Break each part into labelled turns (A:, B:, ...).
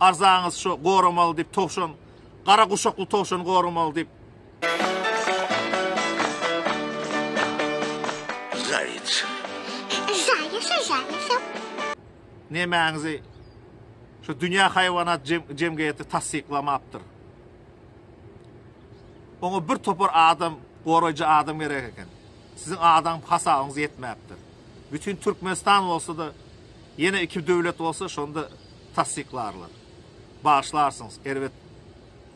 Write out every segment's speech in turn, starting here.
A: Arzaňyz şo goramaly diýip towşan gara guşakly towşan goramaly diýip. Zaýec.
B: Zaýec zaýec.
A: Nemäňizi şu dünýä haýwanat jemgyýeti tassyklamapdyr. Oňa bir topar adam goraýjy adam gerek eken. Siziň adam hasabyňyz ýetmäpdir. Bütin Türkmenistan bolsa-da, ýene iki döwlet bolsa, şonda tassyklarlar. Bagyşlarsyňyz, erbet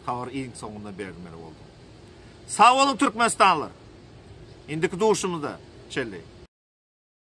A: habary iň soňunda bermeli boldum. Sag boluň, türkmenistanlylar! Indiki duşumyzda çenli!